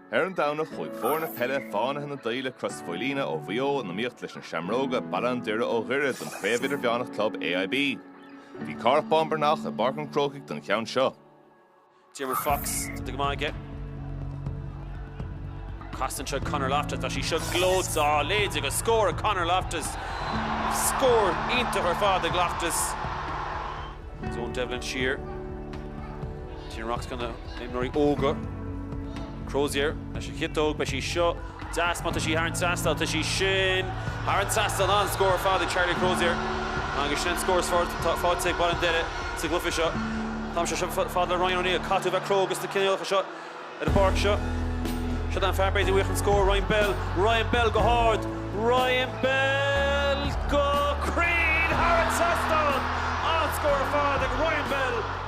Ar an Domhnach chuaigh foirne peile Fánaithe na Daoile Crois Mhaoilíona ó Mhaigh Eo in iomaíocht leis na Seamróga, Baile an Doire ó Dhoire don Chraobh Idirmheánach Club AIB. Bhí Cárthach Bán Breathnach i bPáirc an Chrócaigh don cheann seo. Diarmuid Fox, tá go maith aige. Casan seo Conor Loftus, tá sí seo glótá léide go scór a Conor Loftus. Scór iontach ar fad ag Loftus. Eoin Devlin siar. Sin racht de na himreoirí óga. Crozier leis an chiotóg, beidh sí seo deas má tá sí thar an trasnán, tá sí sin thar an trasnán, an-scór ar fad ag Charlie Crozier agus sin an scór is furasta atá faighte ag Baile an Doire sa gcluiche seo. Tá sí seo fada le Ryan O'Neill, caithfidh tú a bheith cróga sna cinéalacha seo ar an bpáirc seo. Siod an fear b'fhéidir uaidh chun scór, Ryan Bell, Ryan Bell go hard, Ryan Bell go cruinn thar an trasnán, an-scór ar fad ag Ryan Bell.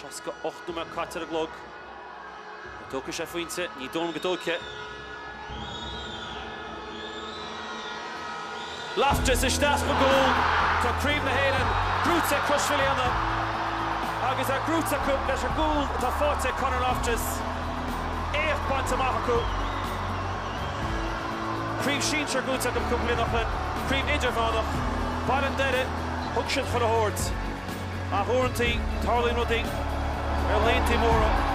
68 nóiméad caite ar an gclog. An dtógfaidh sé a phointe? Ní dóigh liom go dtógfaidh. Loftus isteach sa gcúl. Tá Craobh na hÉireann buaite ag Crois Mhaoilíona agus é buaite acu leis an gcúl atá faighte ag Conor Loftus. Éacht bainte amach acu. Craobh Sinsear buaite acu cúpla bliain ó shin, Craobh Idirmheánach, Baile an Doire, thug siad chun a thabhairt. Ach uaireanta, tarlaíonn rudaí ar laethanta móra.